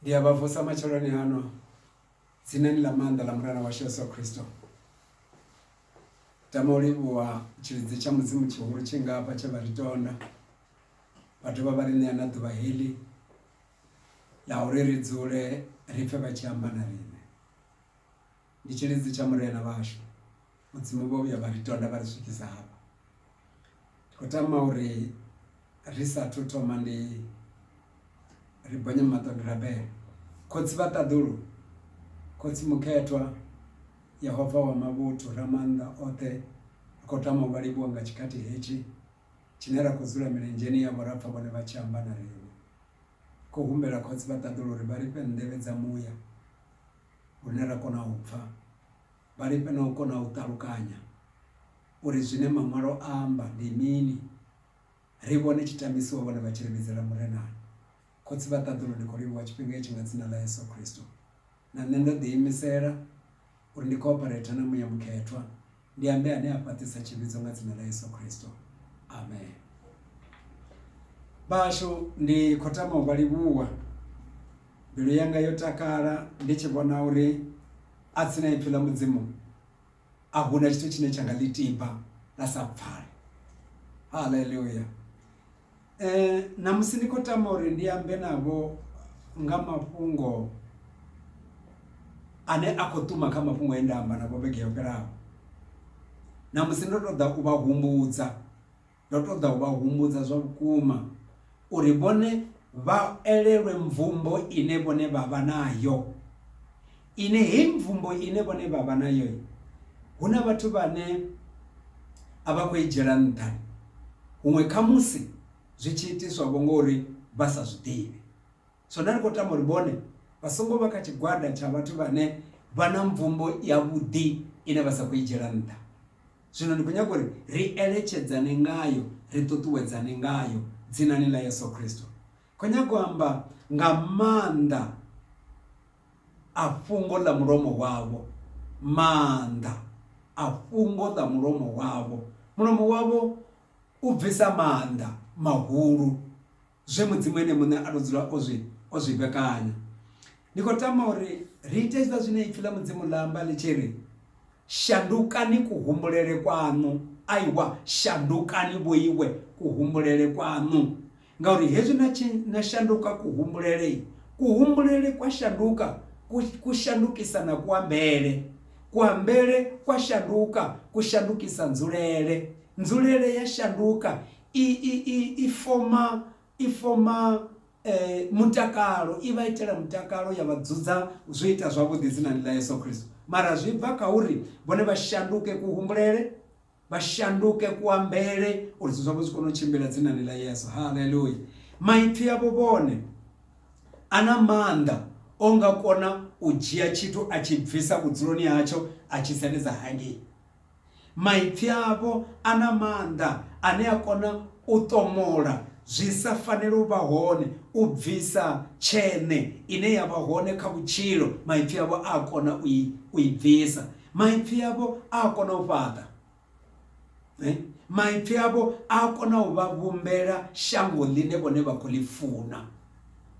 Ndi a vha vusa matsheloni ano tsinani ḽa maanḓa ḽa Murena washu Yesu Kristo. Ndi tama u livhuwa tshilidzi tsha Mudzimu tshihulu tshi nga hafha tshe vha ri tonda vha dovha vha ri ṋea na ḓuvha heḽi ḽa uri ri dzule ri pfhe vha tshi amba na riṋe. Ndi tshilidzi tsha Murena vhashu Mudzimu vho vhuya vha ri tonda vha ri swikisa hafha. Ndi khou tama uri ri sathu thoma ndi ri bonye maṱo ndi rabele. Khotsi vha ṱaḓulu, Khotsi Mukhethwa, Yehova wa mavhuthu, Ramaanḓa oṱhe, ri khou tama u vha livhuwa nga tshikhathi hetshi tshine ra khou dzula milenzheni yavho ra pfa vhone vha tshi amba na riṋe. Ri khou humbela Khotsi vha ṱaḓulu uri vha ri fhe nḓevhe dza muya. hune ra kona u pfa, vha lifhe na u kona u ṱalukanya uri zwine Maṅwalo a amba ndi mini, ri vhone tshitamisiwa vhone vha tshi ri vhidzela Murenani. Khotsi vha ṱaḓulu, ndi khou livhuwa tshifhinga itshi nga Dzina ḽa Yesu Kristo. Na nṋe ndo ḓiimisela uri ndi khou ophareitha na Muya Mukhethwa Ndi ambe ane a fhaṱisa tshivhidzo nga dzina ḽa Yesu Kristo. Amen. Vhashu ndi khou tama u vha livhuwa. Mbilu yanga yo takala ndi tshi vhona uri a tsina ipfi ḽa mudzimu a huna tshithu tshine tsha nga ḽi tiba ḽa sa pfale. Haleluya. Ṋamusi ndi khou tama uri ndi ambe navho nga mafhungo ane a khou ṱuwa kha mafhungo enda amba navho vhege yo fhelaho. Ṋamusi ndo ṱoḓa u vha humbudza ndo ṱoḓa u vha humbudza zwa vhukuma uri vhone vha elelwe mvumbo ine vhone vha vha nayo. Ine heyi mvumbo ine vhone vha vha nayo, hu na vhathu vhane a vha khou i dzhiela nṱha, huṅwe khamusi zwi tshi itiswa-vho nga uri vha sa zwi ḓivhe. Zwino ri khou tama uri vhone vha songo vha kha tshigwada tsha vhathu vhane vha na mvumbo yavhuḓi ine vha sa khou i dzhiela nṱha. Zwino ndi khou nyaga uri ri eletshedzane ngayo, ri ṱuṱuwedzane ngayo, Dzinani ḽa Yesu Kristo. Khou nyaga u amba nga maanḓa. a fhungo ḽa mulomo wavho, maanḓa a fhungo ḽa mulomo wavho. Mulomo wavho u bvisa maanḓa mahulu, zwe Mudzimu Ene Muṋe a tou dzula o zwi o zwi vhekanya. Ndi khou tama uri ri ite hezwiḽa zwine Ipfi ḽa Mudzimu ḽa amba ḽi tshi ri, shandukani kuhumbulele kwaṋu, aiwa shandukani vhoiwe kuhumbulele kwaṋu. Ngauri hezwi na tshi na shanduka kuhumbulele, kuhumbulele kwa shanduka, ku, ku shandukisa na kuambele, kuambele kwa shanduka, ku shandukisa nzulele, nzulele ya shanduka, i, i, i, i foma, i foma e, mutakalo, i vha itela mutakalo, ya vha dzudza zwi ita zwavhuḓi dzinani ḽa Yesu Kristo. Mara zwi bva kha uri vhone vha shanduke kuhumbulele. vha shanduke kuambele uri zwithu zwavho zwi kone u tshimbila dzinani ḽa yesu haleluya maipfi avho vhone a na maanḓa o nga kona u dzhia tshithu a tshi bvisa vhudzuloni hatsho a tshi sendedza hangei maipfi avho a na maanḓa ane a kona u ṱomola zwi sa fanela u vha hone u bvisa tshene ine ya vha hone kha vhutshilo maipfi avho a kona u i bvisa Maipfi avho a a kona u fhaṱa. Maipfi avho a a kona u vha vhumbela shango ḽine vhone vha khou ḽi funa.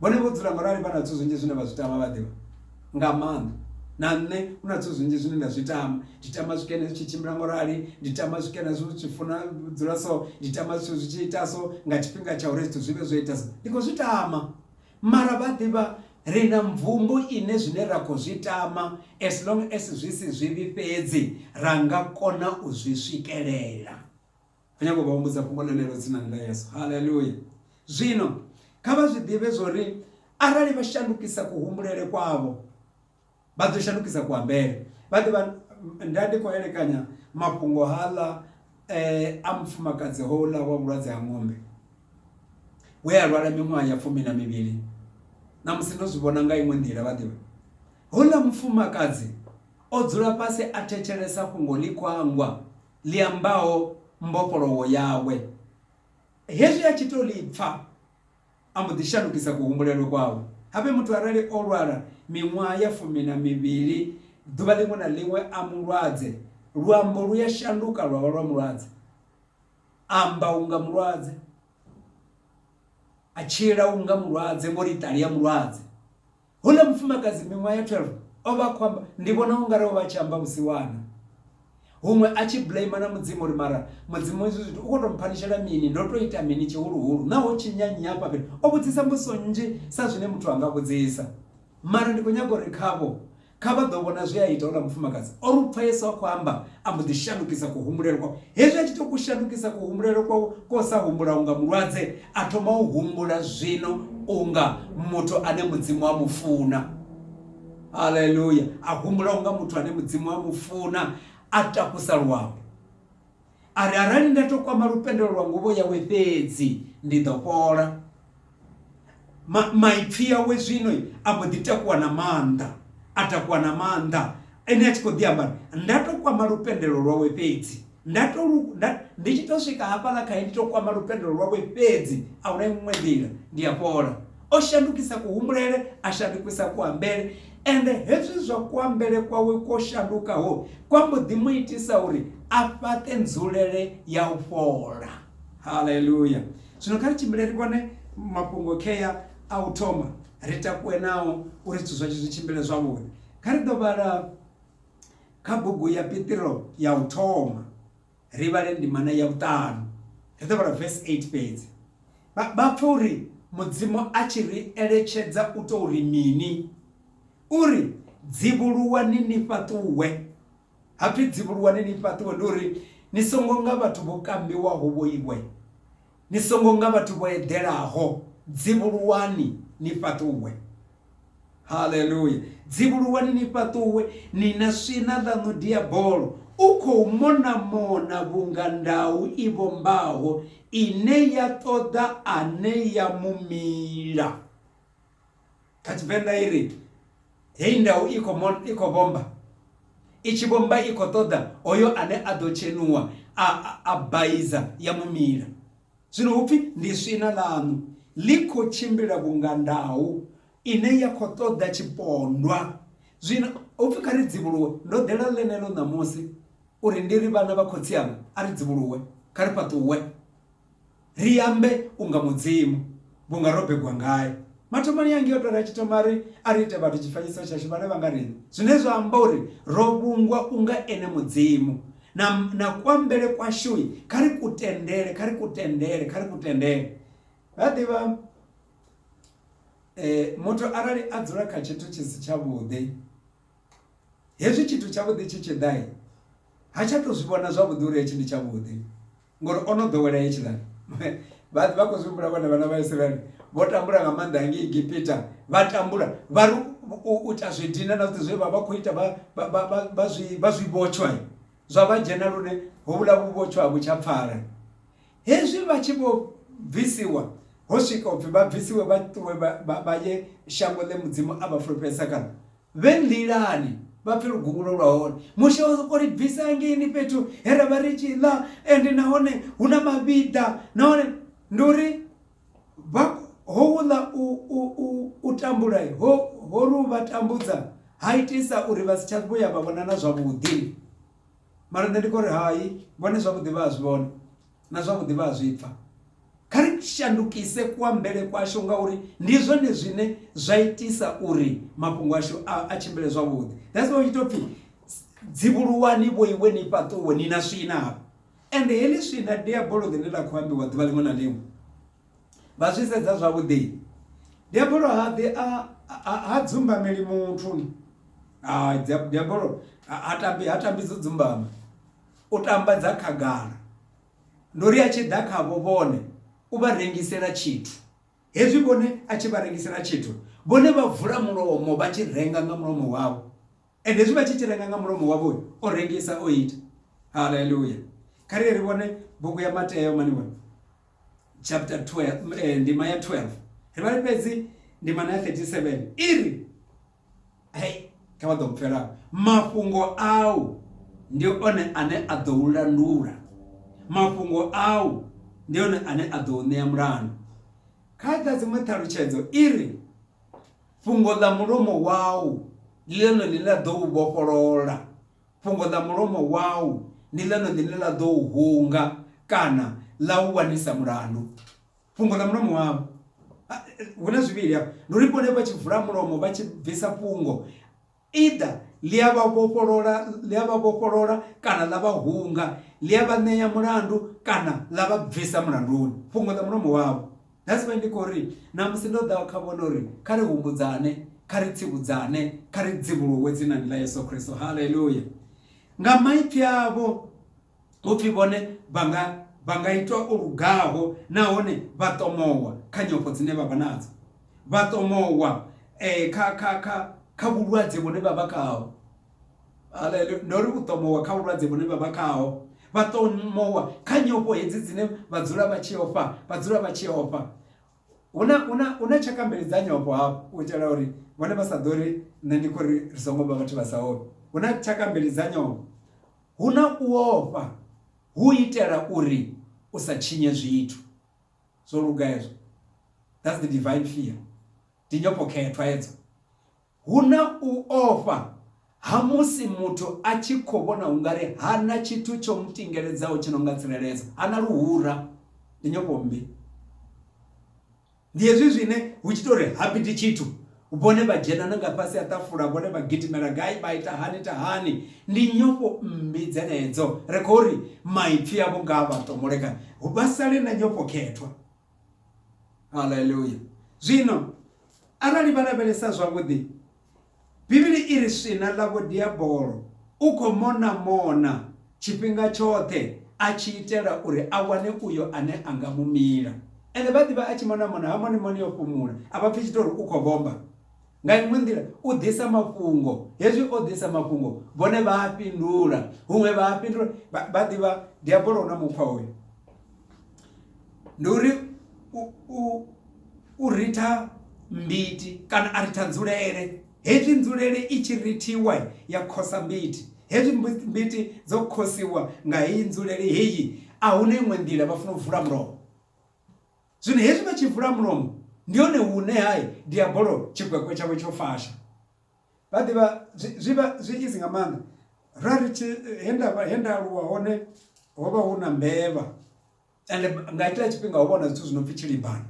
Vhone vho dzula ngorali vha na zwithu zwinzhi zwine vha zwi tama vha ḓivha nga maanḓa na nṋe hu na zwithu zwinzhi zwine nda zwi tama ndi tama zwikene zwi tshi tshimbila ngorali ndi tama zwikene zwi tshi funa dzula so ndi tama zwithu zwi tshi ita so nga tshifhinga tsha uri zwithu zwi vhe zwo ita so ndi khou zwi tama Mara vha ḓivha ri na mvumbo ine zwine ra khou zwi tama as long as zwi si zwivhi fhedzi ra nga kona u zwi swikelela. Ri nyaga u vha humbudza fhungo ḽenelo dzinani ḽa Yesu. Haleluya! Zwino kha vha zwi ḓivhe zwa uri arali vha shandukisa kuhumbulele kwavho, Vha ḓo shandukisa kuambele. Vha ḓo vha, Nda ndi khou elekanya mafhungo haaḽa e a mufumakadzi houḽa wa vhulwadze ha ṅombe we a lwala miṅwaha ya fumi na mivhili. Ṋamusi ndo zwi vhona nga iṅwe nḓila, vha ḓivha. Houḽa mufumakadzi o dzula fhasi a thetshelesa fhungo ḽi khwangwa ḽi ambaho mbofholowo yawe. Hezwi a tshi tou ḽi pfa. A mbo ḓi shandukisa kuhumbulele kwawe. Habe muthu arali o lwala miṅwaha ya fumi na mivhili, ḓuvha ḽiṅwe na ḽiṅwe a mulwadze, luambo lu ya shanduka lwa vha lwa mulwadze. A amba unga mulwadze. A tshila unga mulwadze, ngo ri iṱali ya mulwadze. Houḽa mufumakadzi miṅwaha ya 12 o vha a khou amba, ndi vhona u nga ri o vha a tshi amba vhusiwana, huṅwe a tshi blamer na Mudzimu uri, Mara Mudzimu, hezwi zwithu u khou tou mphanishela mini? Ndo tou ita mini tshihuluhulu? Naa ho tshinya nnyi hafha fhethu? O vhudzisa mbudziso nnzhi sa zwine muthu a nga vhudzisa. Mara ndi khou nyaga u ri khavho, Kha vha ḓo vhona zwe a ita houḽa mufumakadzi. O ri u pfa Yesu a khou amba, A mbo ḓi shandukisa kuhumbulele kwawe. Hezwi a tshi tou ku shandukisa kuhumbulele kwawe ko sa humbula unga mulwadze, a thoma u humbula zwino unga muthu ane Mudzimu a mu funa. Haleluya! A humbula unga muthu ane Mudzimu a mu funa, a takusa luambo. A ri, Arali nda tou kwama lupendelo lwa nguvho yawe fhedzi, ndi ḓo fhola. Ma, maipfi yawe zwino a mbo ḓi takuwa na maanḓa a takuwa na maanḓa ene a tshi khou ḓi amba nda to kwama lupendelo lwawe fhedzi nda to ndi tshi to swika hafhaḽa khae ndi to kwama lupendelo lwawe fhedzi a huna iṅwe nḓila ndi a fhola o shandukisa kuhumbulele a shandukisa kuambele ende hezwi zwa kuambele kwawe kwo shandukaho kwa mbo ḓi mu itisa uri a fhaṱe nzulele ya u fhola haleluya zwino kha ri tshimbile ri vhone mafhungo khea a u thoma ri takuwe nao uri zwithu zwashu zwi tshimbile zwavhuḓi kha ri ḓo vhala kha bugu ya pitiro ya u thoma ri vhale ndimana ya vhuṱanu ri ḓo vhala vesi 8 fhedzi vha pfa uri mudzimu a tshi ri eletshedza u tou ri mini uri dzivhuluwani ni fhaṱuwe Ha pfi, Dzivhuluwani ni fhaṱuwe, ndi uri ni songo nga vhathu vho kambiwaho vho iwe, ni songo nga vhathu vho eḓelaho, dzivhuluwani ni fhaṱuwe. Haleluya! Dzivhuluwani ni fhaṱuwe, ni na swina ḽaṋu Diabolo u khou mona-mona vhunga ndau i vhombaho ine ya ṱoḓa ane ya mu mila. Kha Tshivenḓa i ri, Heyi ndau i khou mon, i khou vhomba. I tshi vhomba i khou ṱoḓa hoyo ane a ḓo tshenuwa a, a, a baiza ya mu mila. Zwino hu pfi ndi swina ḽaṋu ḽi khou tshimbila vhunga ndau ine ya khou ṱoḓa tshipondwa. Zwino hu pfi kha ri dzivhuluwe. Ndo ḓela ḽeneḽo ṋamusi uri ndi ri vhana vha khotsi anga a ri dzivhuluwe, kha ri fhaṱuwe. Ri ambe unga Mudzimu, vhunga ro begwa ngae. Mathomoni ya ngiyo tora tshi thoma ri, A ri ite vhathu tshifanyiso tshashu vhane vha nga riṋe, zwine zwa amba uri ro vhungwa unga ene Mudzimu. Na, na kuambele kwashui, kha ri ku tendele, kha ri ku tendele, kha ri ku tendele. Vha ḓivha, e, muthu arali a dzula kha tshithu tshi si tshavhuḓi, hezwi tshithu tshavhuḓi tshi tshi ḓa, ha tsha tou zwi vhona zwavhuḓi uri hetshi ndi tshavhuḓi. ngori ono ḓowela hetshiḽa vha vha khou zwi humbula vhone vhana vha Israel vho tambula nga maanḓa hangei Egipita vha tambula vha ri u ita zwi dina na zwithu zwe vha vha khou ita vha vha vha vha vha zwi vha zwi vhotshwa zwa vha dzhena lune hovhula vhu vhotshwa vhu tsha pfala hezwi vha tshi vho bvisiwa ho swika upfhi vha bvisiwe vha ṱuwe vha ye shango ḽe mudzimu a vha fulufhedzisa kana Vhe nḓilani, vha pfe luguvhulo lwa hone. Mushe o sokou ri bvisa hangeini fhethu he ra vha ri tshi ḽa, ende nahone hu na mavhiḓa, nahone ndi uri vha, houḽa u, u, u, u tambula ho, ho ri u vha tambudza ha itisa uri vha si tsha vhuya vha vhonana zwavhuḓi. Mara nṋe ndi khou ri, Hai, vhone zwavhuḓi vha a zwi vhona. Na zwavhuḓi vha a zwi pfa. Kha ri shandukise kuambele kwashu ngauri ndi zwone zwine zwa itisa uri mafhungo ashu a, a tshimbile zwavhuḓi. That's why u tshi tou pfi dzivhuluwani vho iwe ni fhaṱuwe ni na swina hafha. Ende heḽi swina diabolo ḽine ḽa khou ambiwa ḓuvha ḽiṅwe na ḽiṅwe vha zwi sedza zwavhuḓi diabolo ha ḓi a ha dzumbameli muthu ha diabolo ha tambi ha tambi dzo dzumbama u tamba dza khagala. Ndo ri a tshi ḓa khavho vhone, u vha rengisela tshithu. Hezwi vhone a tshi vha rengisela tshithu, vhone vha vula mulomo vha tshi renga nga mulomo wavho. Ende hezwi vha tshi tshi renga nga mulomo wavho, o rengisa o ita. Haleluya! Kha ri ri vhone bugu ya Mateo maniwana chapter 12 eh, ndima ya 12 ri vhale fhedzi ndima na 37 iri Hei, kha vha ḓo mpfela mafhungo au ndi one ane a ḓo u landula, mafhungo au ndi one ane a ḓo u ṋea mulandu. Kha dza dziṅwe ṱhalutshedzo i ri, fhungo ḽa mulomo wau ndi ḽone ḽine ḽa ḓo u vhofholola, fhungo ḽa mulomo wau ndi ḽone ḽine ḽa ḓo u hunga kana ḽa u wanisa mulandu. fhungo ḽa mulomo wavho hu na zwivhili hafho ndi uri vhone vha tshi vula mulomo vha tshi bvisa fhungo either ḽi a vha vhofholola ḽi a vha vhofholola kana ḽa vha hunga ḽi a vha ṋea mulandu kana ḽa vha bvisa mulanduni fhungo ḽa mulomo wavho that's why ndi khou ri na musi ndo ḓa kha vhone uri kha ri humbudzane kha ri tsivhudzane kha ri dzivhuluwe dzinani ḽa yesu khristo haleluya nga maipfi avho hu pfi vhone vha nga vha nga itwa o lugaho nahone vha ṱomowa kha nyofho dzine vha vha nadzo vha ṱomowa eh, kha kha kha kha vhulwadze vhune vha vha khaho haleluya ndo ri u ṱomowa kha vhulwadze vhune vha vha khaho vha ṱomowa kha nyofho hedzi dzine vha dzula vha tshi ofha vha dzula vha tshi ofha huna huna huna tshaka mbili dza nyofho hafhu u itela uri vhone vha sa ḓo ri nṋe ndi khou ri ri songo vha vhathu vha sa ofhi huna tshaka mbili dza nyofho Hu na u ofha hu u itela uri u sa tshinye zwithu. Zwo luga hezwo. That's the divine fear. Ndi nyofhokhethwa hedzo. Hu na u ofha ha musi muthu a tshi khou vhona u nga ri ha na tshithu tsho mu tingeledzaho tshi no nga tsireledzo, ha na luhura. Ndi nyofho mmbi. Ndi hezwi zwine hu tshi tou ri ha piti tshithu, vhone vha dzhena na nga fhasi ha ṱafula, vhone vha gidimela gai, vha ita hani ita hani. Ndi nyofho mmbi dzenedzo, ri khou ri maipfi avho nga a vha tomboleka, vha sale na nyofho khethwa. Haleluya! Zwino arali vha lavhelesa zwavhuḓi, Bivhili i ri swina ḽavho Diabolo u khou mona-mona tshifhinga tshoṱhe a tshi itela uri a wane uyo ane a nga mu mila. Ene vha ḓivha a tshi mona-mona ha moni moni yo fhumula, a vha pfi tshithu uri u khou vhomba. Nga iṅwe nḓila, u ḓisa mafhungo. Hezwi o ḓisa mafhungo, vhone vha a fhindula. Huṅwe vha a fhindula. Vha ḓivha Diabolo u na mukhwa hoyu. ndi uri u ritha mbiti kana a ritha nzulele hezwi nzulele i tshi rithiwa ya khosa mbiti hezwi mbiti dzo khosiwa nga heyi nzulele heyi a huna iṅwe nḓila vha funa u vula mulomo zwino hezwi vha tshi vula mulomo ndi hone hune hai diabolo tshikwekwe tshawe tsho fasha vha ḓivha zwi vha zwi easy nga maanḓa ra ri tshi he nda he nda aluwa hone ho vha hu na mbevha ende nga hetshila tshifhinga ho vha hu na zwithu zwi no pfhi tshilibana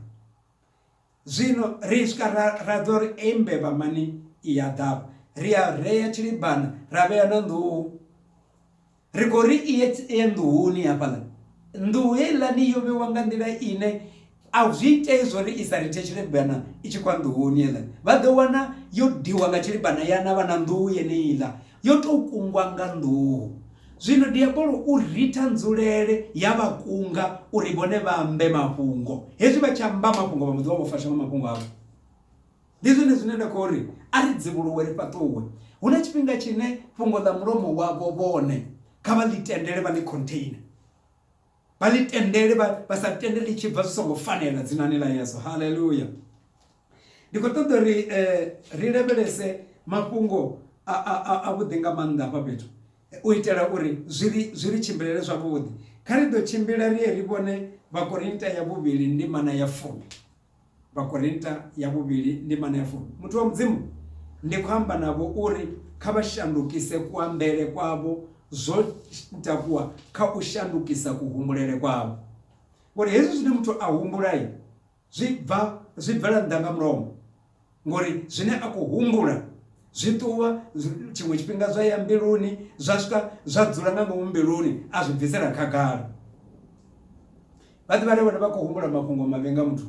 zwino ri swika ra ra ḓivha uri eyi mbevha mani i ya ḓavha ri a rea tshilibana ra vhea na nḓuhu Ri khou ri i ye nḓuhuni hafhaḽa. Nḓuhu heiḽani yo vhewa nga nḓila ine a zwi itei zwo ri i sa rithe tshilibana i tshi kwa nḓuhuni heiḽa. Vha ḓo wana yo diwa nga tshilibana ya na vha na nḓuhu yeneiḽa yo tou kungwa nga nḓuhu. Zwino diabolo u ritha nzulele ya vha kunga uri vhone vha ambe mafhungo. Hezwi vha tshi amba mafhungo vha mbo ḓi vha vho fasha nga mafhungo avho. Ndi zwone zwine nda khou ri, A ri dzivhuluwe ri fhaṱuwe. Hu na tshifhinga tshine fhungo ḽa mulomo wavho vhone kha vha ḽi tendele, vha ḽi container, vha ḽi tendele, vha vha sa tende ḽi tshi bva zwi songo fanela dzinani ḽa Yesu. Haleluya! Ndi khou ṱoḓa uri ri lavhelese mafhungo a a a vhuḓi nga maanḓa hafha fhethu u itela uri zwi ri zwi ri tshimbilele zwavhuḓi. Kha ri ḓo tshimbila ri ye ri vhone Vhakorinta ya vhuvhili ndimana ya fumi. Vhakorinta ya vhuvhili ndimana ya fumi. Muthu wa Mudzimu, ndi khou amba navho uri kha vha shandukise kuambele kwavho zwo takuwa kha u shandukisa kuhumbulele kwavho. Ngori hezwi zwine muthu a humbulai zwi bva zwi bvela nnḓa nga mulomo. ngori zwine a khou humbula zwi ṱuwa tshiṅwe tshifhinga zwa ya mbiluni zwa swika zwa dzula nga ngomu mbiluni a zwi bvisela khagala vha ḓivha levhone vha khou humbula mafhungo mavhi nga muthu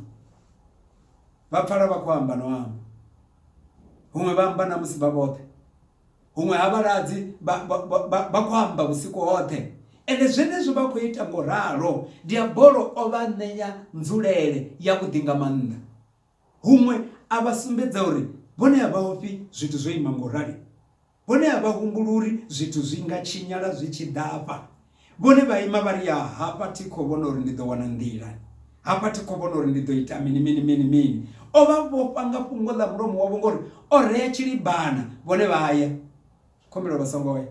vha pfala vha khou amba no amba huṅwe vha amba na musi vha vhoṱhe huṅwe ha vhaladzi vha khou amba vhusiku hoṱhe ende zwenezwo vha khou ita ngo ralo diabolo o vha ṋeya nzulele ya vhuḓi nga maanḓa Huṅwe a vha sumbedza uri vhone a vha ofhi zwithu zwo ima nga u rali. Vhone a vha humbuli uri zwithu zwi nga tshinyala zwi tshi ḓa afha. Vhone vha ima vha ri, Ya, hafha thi khou vhona uri ndi ḓo wana nḓila. Hafha thi khou vhona uri ndi ḓo ita mini, mini, mini, mini. O vha vhofha nga fhungo ḽa mulomo wavho ngauri o rea tshilibana, vhone vha ya. Khumbelo vha songo ya.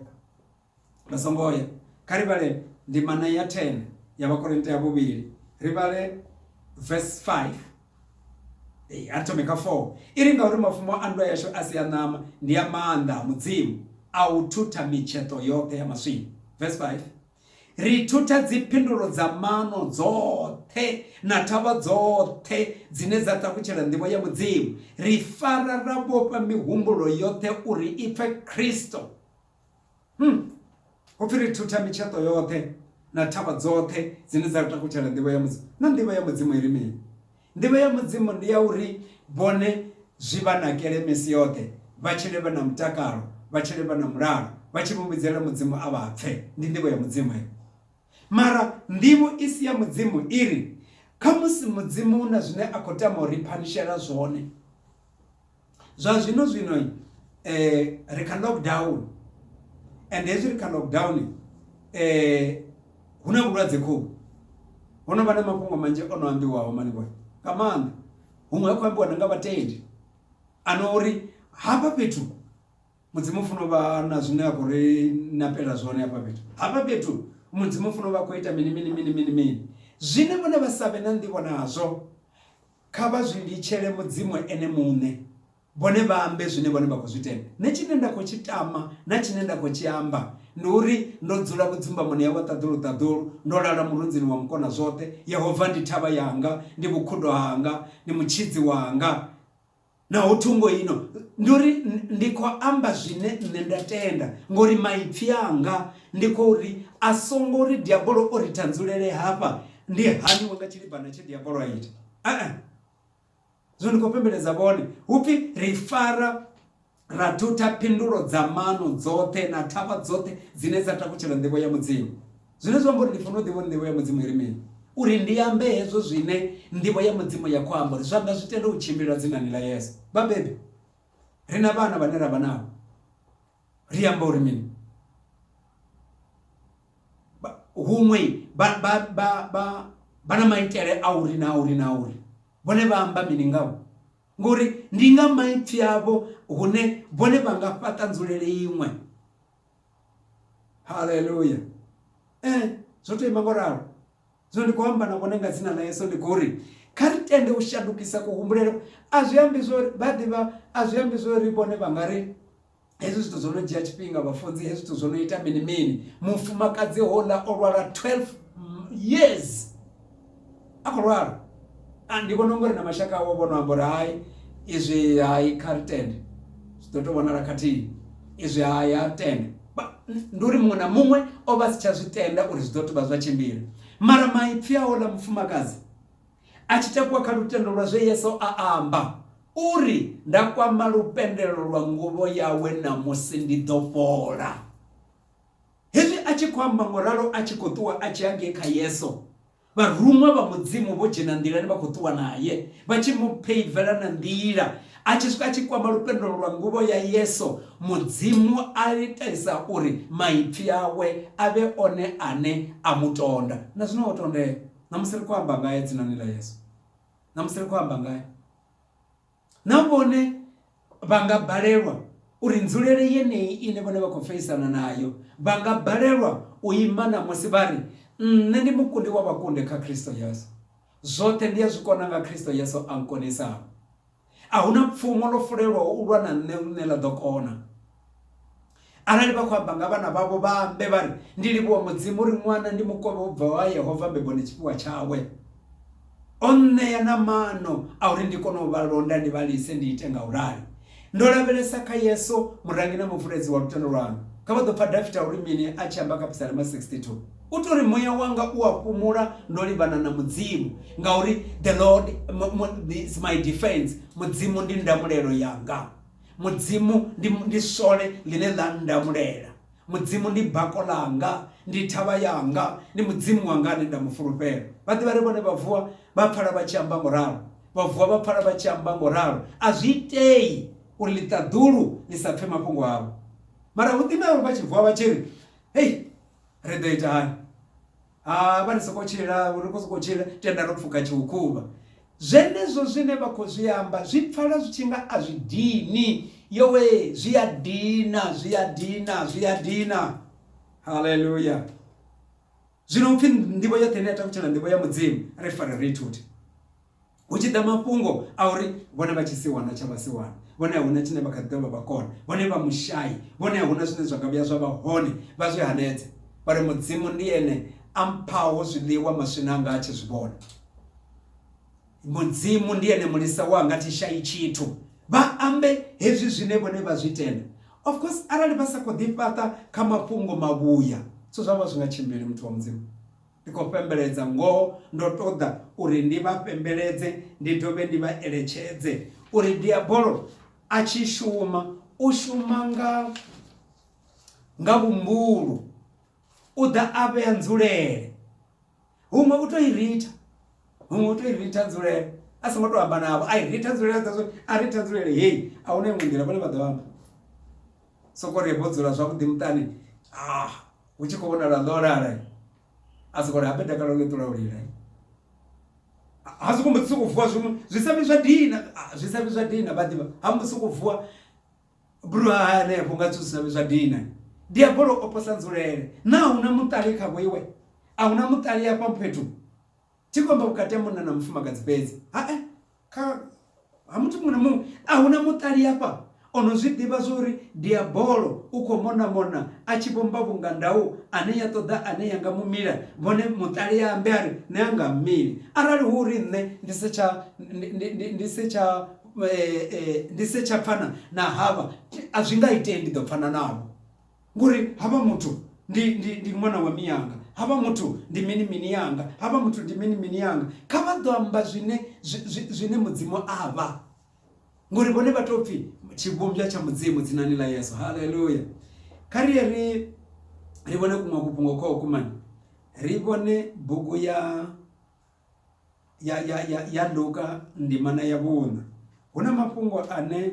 Vha songo ya. Kha ri vhale ndimana ya 10 ya Vhakorinte ya vhuvhili, ri vhale vesi 5. Ee, a ri thome kha 4. I ri, Ngauri mafumo a nndwa yashu a si a ṋama, ndi a maanḓa a Mudzimu, a u thutha mitsheṱo yoṱhe ya maswina. Vesi 5. Ri thutha dziphindulo dza mano dzoṱhe na thavha dzoṱhe dzine dza ṱakutshela nḓivho ya Mudzimu. Ri fara ra vhofha mihumbulo yoṱhe uri i pfe Kristo. Hmm. Ho pfi ri thutha mitsheṱo yoṱhe na thavha dzoṱhe dzine dza ri takutshela nḓivho ya Mudzimu. Na nḓivho ya Mudzimu i ri mini? Nḓivho ya Mudzimu ndi ya uri vhone zwi vha nakele misi yoṱhe vha tshile vha na mutakalo vha tshile vha na mulalo vha tshi mu vhidzela Mudzimu a vha pfe. Ndi nḓivho ya Mudzimu heyo. Mara nḓivho i si ya Mudzimu i ri khamusi Mudzimu na zwine a khou tama u ri phanishela zwone. Zwa zwino zwino ri kha lockdown and hezwi ri kha lockdown hu na vhulwadze khou ho no vha na mafhungo manzhi o no ambiwaho malinwe nga maanḓa huṅwe ha khou ambiwa na nga vhatendi a no uri hafha fhethu mudzimu funa vha na zwine a khou ri na fhela zwone hafha fhethu hafha fhethu mudzimu funa vha khou ita mini mini mini mini mini zwine vhone vha savhe na nḓivho nazwo. Kha vha zwi litshele Mudzimu Ene muṋe, vhone vha ambe zwine vhone vha khou zwi tenda. Nṋe tshine nda khou tshi tama na tshine nda khou tshi amba ndi uri ndo dzula vhudzimbamoni ha wa ṱaḓulu-ṱaḓulu, ndo lala murunzini wa Mukona zwoṱhe. Yehova ndi thavha yanga, ndi vhukhudo hanga, ndi mutshidzi wanga. naho thungo ino ndi uri ndi khou amba zwine nṋe nda tenda ngori maipfi anga ndi khou ri a songo ri diabolo o ri tanzulele hafha ndi haniwe nga tshilibana tshe diabolo a ita ee zwino ndi khou pembeledza vhone hu pfi ri fara ra thutha phindulo dza mano dzoṱhe na thavha dzoṱhe dzine dza takutshela nḓivho ya mudzimu Zwine zwa amba uri ndi fanela u ḓivha uri ndivho ya mudzimu i ri mini uri ndi ambe hezwo zwine ndivho ya mudzimu ya khou amba uri zwa nga zwi tende u tshimbila dzinani ḽa yesu vhabebi ri na vhana vhane ra vha navho ri amba uri mini huṅwe vha vha vha vha vha na maitele a uri na uri na uri vhone vha amba mini ngavho ngori ndi nga maipfi avho hune vhone vha nga fhaṱa nzulele iṅwe haleluya eh zwo to ima ngoralo zwino ndi khou amba na vhone nga dzina ḽa yesu ndi khou ri kha ri tende u shandukisa kuhumbulelo a zwi ambi zwo vha ḓivha a zwi ambi zwo ri vhone vha nga ri hezwi zwithu zwo no dzhia tshifhinga vhafunzi hezwi zwithu zwo no ita mini mini mufumakadzi hola o lwala 12 years a khou lwala a ndi vhona ungari na mashaka awo vhono amba uri hai izwi hai kha ri tende zwi ḓo tou vhonala khathihi izwi hai a ri tende ndi uri muṅwe na muṅwe o vha si tsha zwi tenda uri zwi ḓo tou vha zwa tshimbila mara maipfi awo ḽa mufumakadzi a tshi takuwa kha lutendo lwa zwe yesu a amba uri nda kwama lupendelo lwa nguvho yawe namusi ndi ḓo fhola Hezwi a tshi khou amba ngo ralo a tshi khou ṱuwa a tshi ya ngei kha Yesu, vharuṅwa vha Mudzimu vho dzhena nḓilani vha khou ṱuwa nae, vha tshi mu pheivela na nḓila. A tshi swika a tshi kwama lupendo lwa nguvho ya Yesu, Mudzimu a itisa uri maipfi awe a vhe one ane a mu tonda. Na zwino o tondea. Ṋamusi ri khou amba ngae dzinani ḽa Yesu. Ṋamusi ri khou amba ngae. Na vhone vha nga balelwa uri nzulele yeneyi ine vhone vha khou feisana nayo, vha nga balelwa u ima ṋamusi vha ri, Nṋe ndi mukundi wa vhakundi kha Kristo Yesu. Zwoṱhe ndi a zwi kona nga Kristo Yesu a nkonisaho. A hu na pfumo ḽo fulelwaho u lwa na nṋe ḽine ḽa ḓo kona arali vha khou amba nga vhana vhavho vha ambe vha ri ndi livhuwa mudzimu uri ṅwana ndi mukovhe u bvaho ha yehova mbeboni tshifhiwa tshawe o nṋea na maano a uri ndi kone u vha londa ndi vha lise ndi ite nga u rali ndo lavhelesa kha yesu murangi na muvuledzi wa lutendo lwanu kha vha ḓo pfa dafita uri mini a tshi amba kha psalema 62 u tori muya wanga u a fhumula ndo livhana na mudzimu ngauri the lord is my defense mudzimu ndi ndamulelo yanga Mudzimu ndi, ndi sole ḽine ḽa ndamulela. Mudzimu ndi bako ḽanga, ndi thavha yanga, ndi Mudzimu wanga ane nda mu fulufhela. Vha ḓivha ri vhone vha vuwa vha pfala vha tshi amba ngo ralo. Vha vuwa vha pfala vha tshi amba ngo ralo. A zwi itei uri ḽiṱaḓulu ḽi sa pfe mafhungo avho. Mara hu ḓi na uri vha tshi vuwa vha tshi ri, Hei, ri ḓo ita hani? ha vha ri soko tshila ri khou sokou tshila tenda ro pfuka tshiukhuvha zwenezwo zwine vha khou zwi amba zwi pfala zwi tshi nga a zwi dini yowe zwi a dina zwi a dina zwi a dina haleluya zwino upfhi ndivho yoṱhe ine ya takutshela ndivho ya mudzimu ri fare ri ithute Hu tshi ḓa mafhungo a uri vhone vha tshisiwana tsha vhasiwana, vhone a hu na tshine vha kha ḓi ḓo vha vha kona, vhone vha mushai, vhone a hu na zwine zwa nga vhuya zwa vha hone, vha zwi hanedza vha ri, Mudzimu ndi Ene a mphaho zwiḽiwa maswina anga a tshi zwi vhona. Mudzimu ndi Ene mulisa wanga, thi shai tshithu. Vha ambe hezwi zwine vhone vha zwi tenda. Of course arali vha sa khou ḓifhaṱa kha mafhungo mavhuya, zwithu zwavho a zwi nga tshimbili, muthu wa Mudzimu. Ndi khou fhembeledza, ngoho, ndo ṱoḓa uri ndi vha fhembeledze, ndi dovhe ndi vha eletshedze uri Diabolo a tshi shuma, u shuma nga, nga vhumbulu. U ḓa a vhea nzulele. Huṅwe u tou i ritha, huṅwe u tou i ritha nzulele, a songo tou amba navho, a i ritha nzulele, a ḓa zwo, a ritha nzulele, hei, a huna iṅwe nḓila, vhone vha ḓo amba. Sokou ri vho dzula zwavhuḓi muṱani, ha. Hu tshi khou vhonala ḽo lala a soko ri habe dakalo ḽo ṱula u lila ha soko mbo soko vuwa zwiṅwe zwi sa vhi zwa dina zwi sa vhi zwa dina vha ḓivha ha mbo soko vuwa bro ha hanefho nga zwithu zwi sa vhi zwa dina diabolo o posa nzulele na hu na muṱali kha vhoiwe a hu na muṱali afha fhethu thi khou amba vhukati ha munna na mufumakadzi fhedzi ha kha ha muthu muṅwe na muṅwe a huna muṱali hafha o no zwi ḓivha zwori diabolo u khou mona mona a tshi vhomba vhunga ndau ane ya ṱoḓa ane ya nga mu mila vhone muṱali ya ambe a ri nṋe a nga mmili arali hu uri nṋe ndi se tsha ndi se tsha ndi se tsha pfana na havha a zwi nga itei ndi ḓo pfana navho Ngori havha muthu ndi, ndi, ndi ṅwana wa mianga, havha muthu ndi mini mini yanga, havha muthu ndi mini mini yanga. Kha vha ḓo amba zwine, zwine Mudzimu a vha, ngori vhone vha tou pfi tshivhumbwa tsha Mudzimu dzinani ḽa Yesu. Haleluya! Kha ri ye ri, ri vhone kuṅwe kufhungo kho kumani, ri vhone bugu ya ya, ya, ya, ya Luka ndimana ya vhuṋa. Hu na mafhungo ane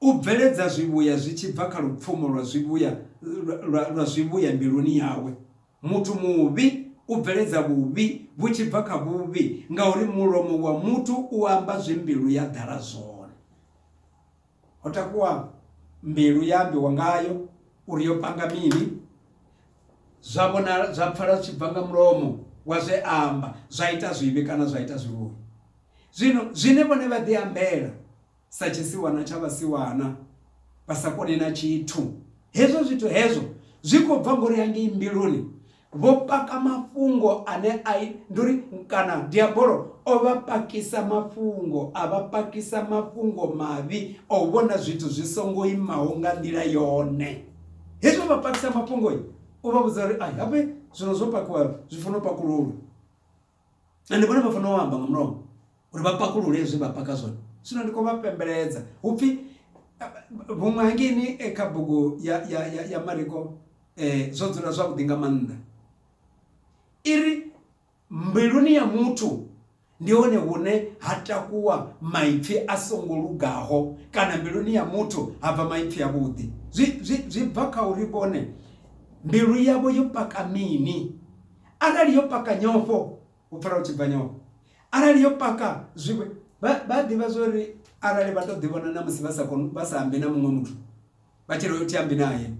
U bveledza zwivhuya zwi tshi bva kha lupfumo lwa zwivhuya lwa lwa zwivhuya mbiluni yawe. Muthu muvhi u bveledza vhuvhi vhu tshi bva kha vhuvhi, ngauri mulomo wa muthu u amba zwe mbilu ya ḓala zwone. Ho takuwa mbilu ye a ambiwa ngayo uri yo panga mini, zwa vhonala zwa pfala zwi tshi bva nga mulomo wa zwe a amba, zwa ita zwivhi kana zwa ita zwivhuya. Zwino, zwine vhone vha ḓiambela, sa tshisiwana tsha vhasiwana, vha sa koni na tshithu. Hezwo zwithu hezwo zwi khou bva ngori hangei mbiluni vho paka mafhungo ane a ndi uri kana diabolo o vha pakisa mafhungo a vha pakisa mafhungo mavhi o vhona zwithu zwi songo imaho nga nḓila yone hezwi vha pakisa mafhungo u vha vhudza uri a habe zwino zwo pakiwa zwi funa u pakululwa na ndi vhone vha fanela u amba nga mulomo uri vha pakulule zwe vha paka zwone zwino ndi khou vha pembeledza hu pfhi vhuṅwe hangeni eh, kha bugu ya, ya, ya, ya mariko eh, zwo dzula zwavhuḓi nga maanḓa i ri mbiluni ya muthu ndi hone hune ha takuwa maipfi a songo lugaho kana mbiluni ya muthu ha bva maipfi avhuḓi zwi bva kha uri vhone mbilu yavho yo paka mini Arali yo paka nyofho, u pfala hu tshi bva nyofho. Arali yo paka zwivhe, vha, vha a ḓivha zwo ri arali vha tou ḓivhona na musi vha sa koni, vha sa ambi na muṅwe muthu, vha tshi ri ho thi ambi nae.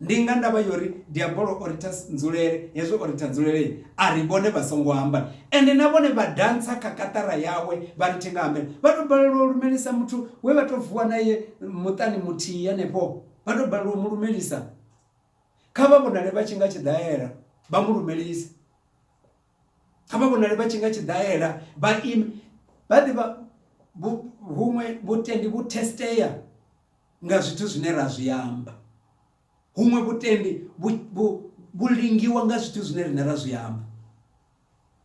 Ndi nga ndavha ya uri Diabolo o ritha nzulele, hezwi o ritha nzulele, a ri vhone vha songo amba. Ende na vhone vha dantsa kha kaṱara yawe vha ri thi nga ambela. Vha tou balelwa u lumelisa muthu we vha tou vuwa nae muṱani muthihi henefho, vha tou balelwa u mu lumelisa. Kha vha vhonale vha tshi nga tshiḓaela vha mu lumelise. Kha vha vhonale vha tshi nga tshiḓaela vha ime vha ḓivha huṅwe vhutendi vhu testea nga zwithu zwine ra zwi amba. Huṅwe vhutendi vhu lingiwa nga zwithu zwine riṋe ra zwi amba.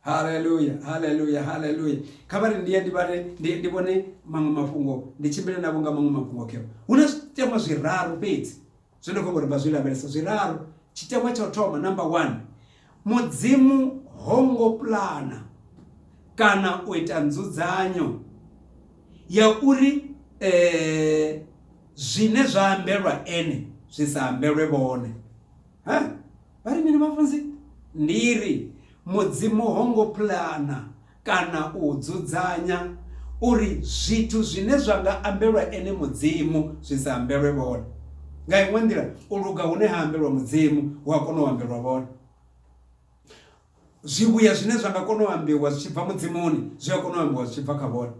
haleluya haleluya haleluya kha vha ri ndi ye ndi vhare ndi ndi vhone maṅwe mafhungo ndi tshimbile navho nga maṅwe mafhungo keo hu na zwiteṅwa zwiraru fhedzi zwi no khombo ri nga zwi lavhelesa zwiraru tshiteṅwa tsha u thoma number one mudzimu ho ngo pulana kana u ita nzudzanyo ya uri eh, zwine zwa ambelwa ene zwi sa ambelwe vhone ha Vha ri mini vhafunzi? Ndi ri, Mudzimu ho ngo pulana kana u dzudzanya uri zwithu zwine zwa nga ambelwa Ene Mudzimu zwi sa ambelwe vhone. Nga iṅwe nḓila, u luga hune ha ambelwa Mudzimu hu a kona u ambelwa vhone. Zwivhuya zwine zwa nga kona u ambiwa zwi tshi bva Mudzimuni zwi a kona u ambiwa zwi tshi bva kha vhone.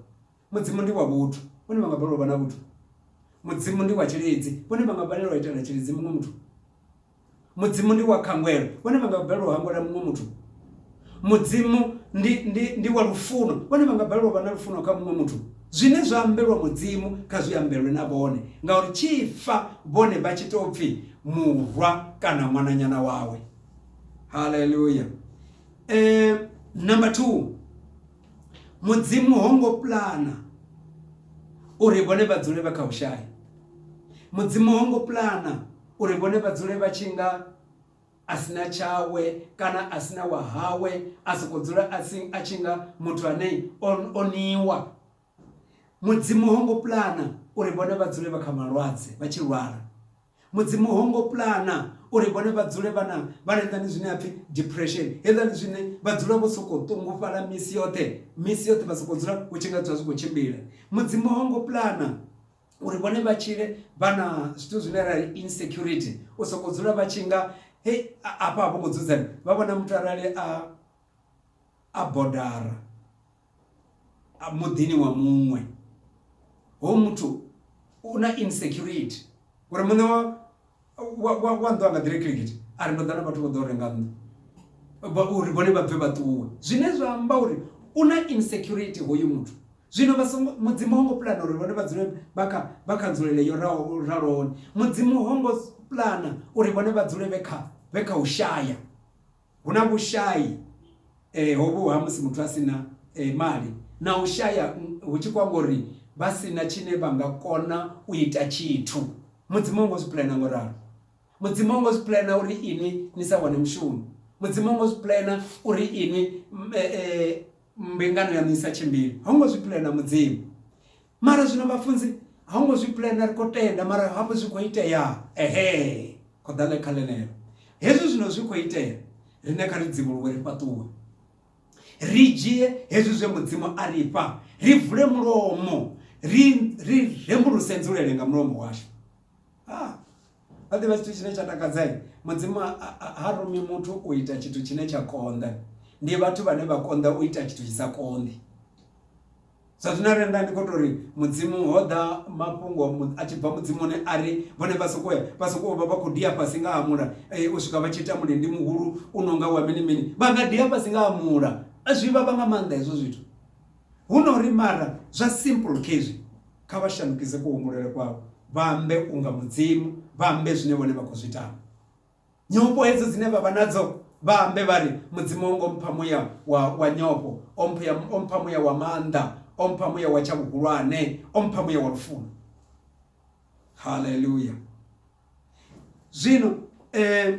Mudzimu ndi wa vhuthu, vhone vha nga balelwa u vha na vhuthu. Mudzimu ndi wa tshilidzi, vhone vha nga balelwa u itela tshilidzi muṅwe muthu. Mudzimu ndi wa khangwelo, vhone vha nga balelwa u hangwela muṅwe muthu. Mudzimu ndi, ndi, ndi wa lufuno, vhone vha nga balelwa u vha na lufuno kha muṅwe muthu. Zwine zwa ambelwa Mudzimu kha zwi ambelwe na vhone, ngauri tshi fa vhone vha tshi tou pfi murwa kana ṅwananyana wawe. Haleluya! Eh, number two, Mudzimu ho ngo pulana uri vhone vha dzule vha kha vhushai. Mudzimu ho ngo pulana Uri vhone vha dzule vha tshi nga a si na tshawe kana a si na wa hawe, a sokou dzula a si a tshi nga muthu ane o o niwa. Mudzimu ho ngo pulana uri vhone vha dzule vha kha malwadze vha tshi lwala. Mudzimu ho ngo pulana uri vhone vha dzule vha na vha na hezwiḽani zwine ha pfi depression hezwiḽani zwine vha dzula vho sokou ṱungufhala misi yoṱhe misi yoṱhe vha sokou dzula hu tshi nga dzula zwi khou tshimbila. Mudzimu ho ngo pulana uri vhone vha tshile vha na zwithu zwine ra insecurity u soko dzula vha tshi nga hei afha vho ngo dzudzana vha vhona muthu arali a a bodara a muḓini wa muṅwe ho muthu u na insecurity uri muṋe wa wa nnḓu anga ḓire kilikiti a ri ndo ḓa na vhathu vho ḓo renga nnḓu uri vhone vha bve vha ṱuwe zwine zwa amba uri u na insecurity hoyu muthu zwino vha songo mudzimu ho ngo pulana uri vhone vha dzule vha kha vha kha nzulele yo raho ralohone mudzimu ho ngo pulana uri vhone vha dzule vhe kha vhe kha u shaya Hu na vhushai eh, hovhu ha musi muthu a si na eh, mali na u shaya mm, hu tshi kwamba uri vha si na tshine vha nga kona u ita tshithu mudzimu ho ngo zwi pulana ngo ralo mudzimu ho ngo zwi pulana uri inwi ni sa wane mushumo mudzimu ho ngo zwi pulana uri inwi mm, eh, eh, mbingano yaṋu i sa tshimbili ho ngo zwi pulana mudzimu Mara zwino vhafunzi ha ngo zwi pulana ri khou tenda mara hafho zwi khou itea ehe khou ḓa ḽe kha ḽenelo hezwi zwino zwi khou itea riṋe kha ri dzivhuluwe ri fhaṱuwe ri dzhie hezwi zwe mudzimu a ri fha ri vule mulomo ri ri rembuluse nzulele nga mulomo washu ha vha ḓivha tshithu tshine tsha takadzai mudzimu ha rumi muthu u ita tshithu tshine tsha konḓa ndi vhathu vhane vha konḓa u ita tshithu tshi sa konḓi Zwa zwino arali nda ndi khou tou ri mudzimu ho ḓa mafhungo a tshi bva mudzimuni a ri vhone vha sokou ya vha sokou vha vha khou dia fhasi nga ha mula eh, u swika vha tshi ita mulendi muhulu u no nga wa mini mini vha nga dia fhasi nga ha mula zwi vhavha nga maanḓa hezwo zwithu hu no ri mara zwa simple khezwi kha vha shandukise kuhumbulele kwavho vha ambe unga mudzimu vha ambe zwine vhone vha khou zwi tama Nyofho hedzo dzine vha vha nadzo, vha ambe vha ri, Mudzimu o ngo mpha muya wa, wa nyofho, o mpha, o mpha muya wa maanḓa, o mpha muya wa tsha vhuhulwane, o mpha muya wa lufuno. Haleluya! Zwino eh,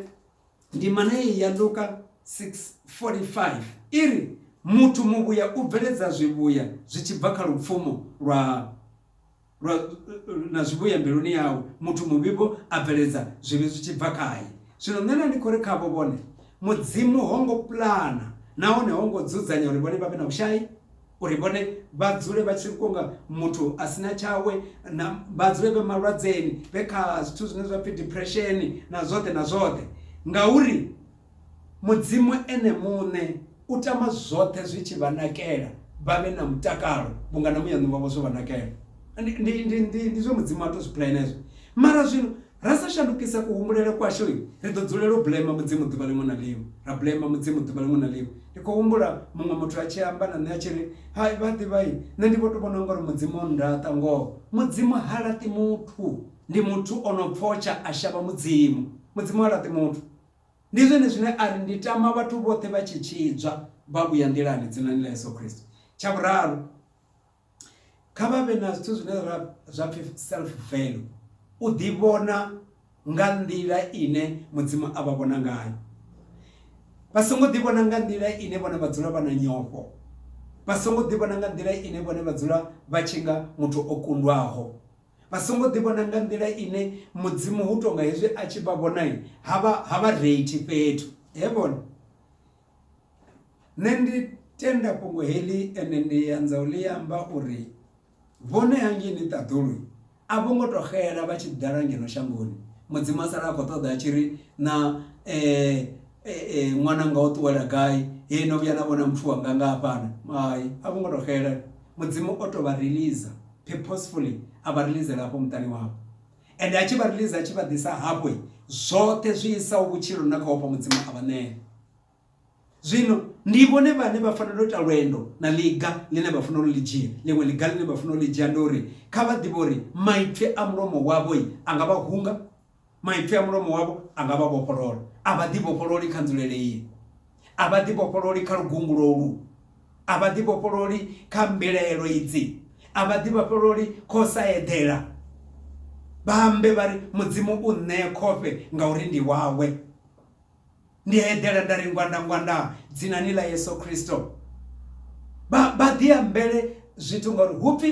ndima naye ya Luka 6:45 i ri, Muthu muvhuya u bveledza zwivhuya zwi tshi bva kha lupfumo lwa lwa, na zwivhuya mbiluni yawe, muthu muvhi-vho a bveledza zwivhi zwi tshi bva khae. Zwino nṋe na ndi khou ri khavho, vhone, Mudzimu ho ngo pulana nahone ho ngo dzudzanya uri vhone vha vhe na vhushai, uri vhone vha dzule vha tshi kunga muthu a si na tshawe, na, vha dzule vhe malwadzeni, vhe kha zwithu zwine zwa pfi depression, na zwoṱhe na zwoṱhe, ngauri. Mudzimu Ene muṋe u tama zwoṱhe zwi tshi vha nakela, vha vhe na mutakalo, vhunga na muyani wavho zwo vha nakela. Ndi, ndi, ndi, ndi, ndi zwe Mudzimu a tou zwi pulana hezwo. Mara zwino, ra sa shandukisa kuhumbulele kwashu, ri ḓo dzulela u blema Mudzimu ḓuvha ḽiṅwe na ḽiṅwe. Ra blema Mudzimu ḓuvha ḽiṅwe na ḽiṅwe. Ndi khou humbula muṅwe muthu a tshi amba na nṋe a tshi ri, Hai, vha a ḓivha, nṋe ndi vho tou vhona u nga uri Mudzimu o nndaṱa. Ngoho, Mudzimu ha laṱi muthu. Ndi muthu o no pfotsha a shavha Mudzimu. Mudzimu ha laṱi muthu. Ndi zwone zwine a ri, Ndi tama vhathu vhoṱhe vha tshi tshidzwa vha vhuya nḓilani dzinani ḽa Yesu Kristo. Tsha vhuraru, kha vha vhe na zwithu zwine ra zwa pfi self value, u ḓivhona nga nḓila ine Mudzimu a vha vhona ngayo. Vha songo ḓivhona nga nḓila ine vhone vha dzula vha na nyofho, vha songo ḓivhona nga nḓila ine vhone vha dzula vha tshi nga muthu o kundwaho, vha songo ḓi vhona nga nḓila ine mudzimu hu tonga hezwi a tshi vha vhona ha vha ha vha reithi fhethu he vhona nṋe ndi tenda fhungo heḽi ende ndi anza u ḽi amba uri vhone hangei ni ṱaḓulu a vho ngo to xela vha tshi ḓala ngeno shangoni mudzimu a sala a khou ṱoḓa a tshi ri na um ṅwana nga u ṱuwela gai he no vhuya na vhona muthu wanga nga hafhana hai a vho ngo to xela mudzimu o to vha releaser purposefully a vha releasela hafho muṱani wavho and a tshi vha release a tshi vha ḓisa hafho zwoṱhe zwi isaho vhutshilo na kha ofha mudzimu a vha ṋea zwino ndi vhone vhane vha fanela u ita lwendo na ḽiga ḽine vha fanela u ḽi dzhia ḽiṅwe ḽiga ḽine vha fanela u ḽi dzhia ndi uri kha vha ḓivhe uri maipfi a mulomo wavho a nga vha hunga Maipfi a mulomo wavho a nga vha vhofholola. A vha ḓivhofhololi kha nzulele iyi. A vha ḓivhofhololi kha lugungulo ulu. A vha ḓivhofhololi kha mbilaelo idzi. A vha ḓivhofhololi kha u sa eḓela. Vha ambe vha ri, Mudzimu u nṋee khofhe ngauri ndi wawe. Ndi a eḓela nda ri, Ngwandangwandaa, dzinani ḽa Yesu Kristo. Vha, vha ḓi ambele zwithu ngauri hu pfi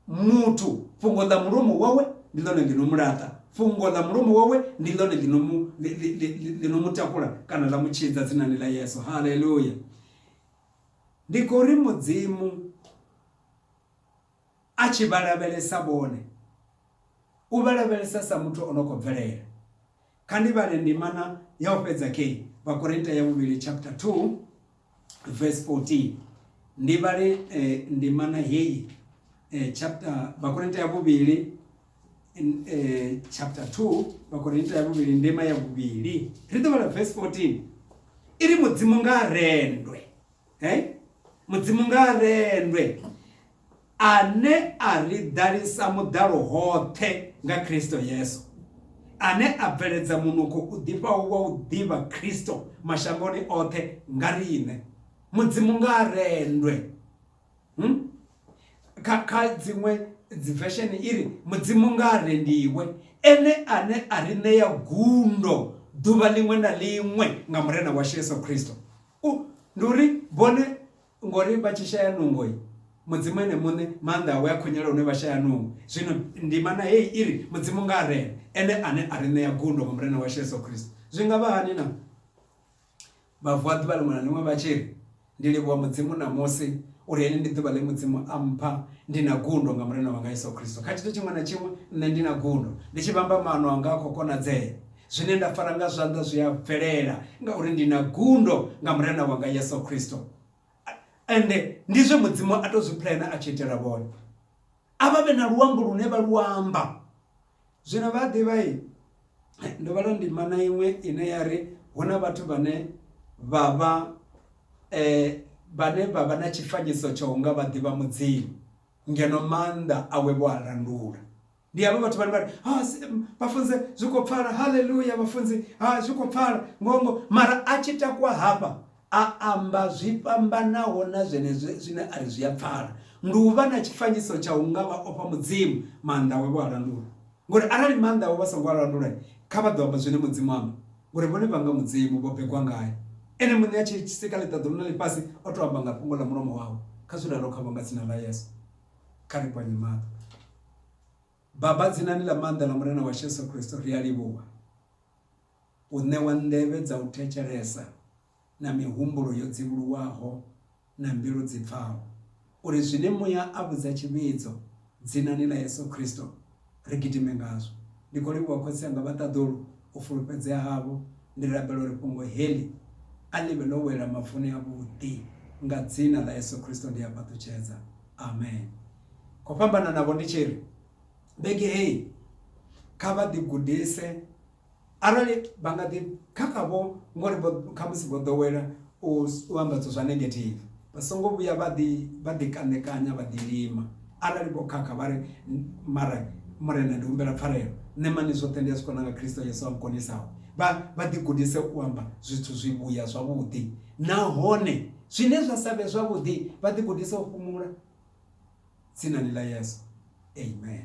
Muthu, fhungo ḽa mulomo wawe ndi ḽone ḽi no mu laṱa, fhungo ḽa mulomo wawe ndi ḽone ḽi no mu, ḽi no mu takula kana ḽa mu tshidza dzinani ḽa Yesu. Haleluya! Ndi khou ri Mudzimu a tshi vha lavhelesa vhone, u vha lavhelesa sa muthu o no khou bvelela. Kha ndi vhale ndimana ya u fhedza kheyi, Vhakorinta ya vhuvhili chapter 2 verse 14. Ndi vhale eh, ndimana heyi eh, chapter Vhakorinta ya vhuvhili in, eh, chapter 2 Vhakorinta ya vhuvhili ndima ya vhuvhili. Ri ḓo vhala verse 14. Iri Mudzimu nga rendwe. he mudzimu nga rendwe ane a ri ḓalisa muḓalo hoṱhe nga kristo yesu ane a bveledza munukho u ḓifhaho wa u ḓivha kristo mashangoni oṱhe nga riṋe mudzimu nga rendwe hmm? kha kha dziṅwe dzivesheni i ri mudzimu nga rendiwe ene ane a ri ṋea gundo ḓuvha ḽiṅwe na ḽiṅwe nga murena washu yesu kristo U, ndi uri vhone ngori vha tshi shaya nungo mudzimu ene muṋe maanḓa awe a khonyela hune vha shaya nungo zwino ndimana heyi i ri mudzimu nga a rena ene ane a ri ṋea gundo nga murena washu yesu kristo zwi nga vha hani na vhavuaḓi vha ḽiṅwe na ḽiṅwe vha tshi ri ndi livhuwa mudzimu ṋamusi uri heḽi ndi ḓuvha ḽe mudzimu a mpha ndi na gundo nga murena wanga yesu kristo kha tshithu tshiṅwe na tshiṅwe nṋe ndi na gundo ndi tshi vhamba maano anga a khou konadzea Zwine nda fara nga zwanḓa zwi a bvelela, ngauri ndi na gundo nga Murena wanga Yesu Kristo. Ende ndi zwe Mudzimu a tou zwi pulena a tshi itela vhone. A vha vhe na luambo lune vha lu amba. Zwino vha a ḓivha-i? Ndo vhala ndima na iṅwe ine ya ri, Hu na vhathu vhane vha vha, vhane vha vha na tshifanyiso tsha u nga vha ḓivha Mudzimu, ngeno maanḓa awe vho a landula. ndi havho vhathu vhane vhari ah, vhafunzi zwi khou pfala halleluya vhafunzi ah, zwi khou pfala ngongo mara a tshi takwa hafha a amba zwi fhambanaho na zwenezwo zwine a ri zwi a pfala ndi u vha na tshifanyiso tsha u nga vha ofha mudzimu maanḓa we vho a landula ngori arali maanḓa we vha songo a landula kha vha ḓo amba zwine mudzimu amba ngori vhone vha nga mudzimu vho begwa ngayo ene muṋe a tshi sika ḽiṱaḓulu na ḽifhasi o to amba nga fhungo ḽa mulomo wawe kha zwi ralo kha vho nga dzina ḽa yesu kha ri kwanye maṱo. Baba, dzinani ḽa maanḓa ḽa Murena washu Yesu Kristo, ri a livhuwa u ṋewa nḓevhe dza u thetshelesa na mihumbulo yo dzivhuluwaho na mbilu dzi pfaho, uri zwine Muya a vhudza tshivhidzo dzinani ḽa Yesu Kristo ri gidime ngazwo. Ndi khou livhuwa khotsi anga vha ṱaḓulu u fulufhedzea havho. Ndi rabela uri fhungo heḽi a ḽi vhe ḽo wela mavuni avhuḓi. Nga dzina ḽa Yesu Kristo ndi a fhaṱutshedza. Amen. Khou fhambana navho ndi tshi ri, vhege heyi kha vha ḓigudise. Arali vha nga ḓi kha kha vho ngori vho khamusi vho ḓowela u amba zwithu zwa negative vha songo vhuya vha ḓi vha ḓi kanekanya vha ḓi lima arali vho khakha vha ri mara murena ndi humbela pfarelo nṋe mani zwoṱhe ndi a zwi kona nga kristo yesu a nkonisaho vha vha ḓi gudise u amba zwithu zwi vhuya zwavhuḓi nahone zwine zwa sa vhe zwavhuḓi vha ḓi gudise u fhumula tsinani ḽa yesu amen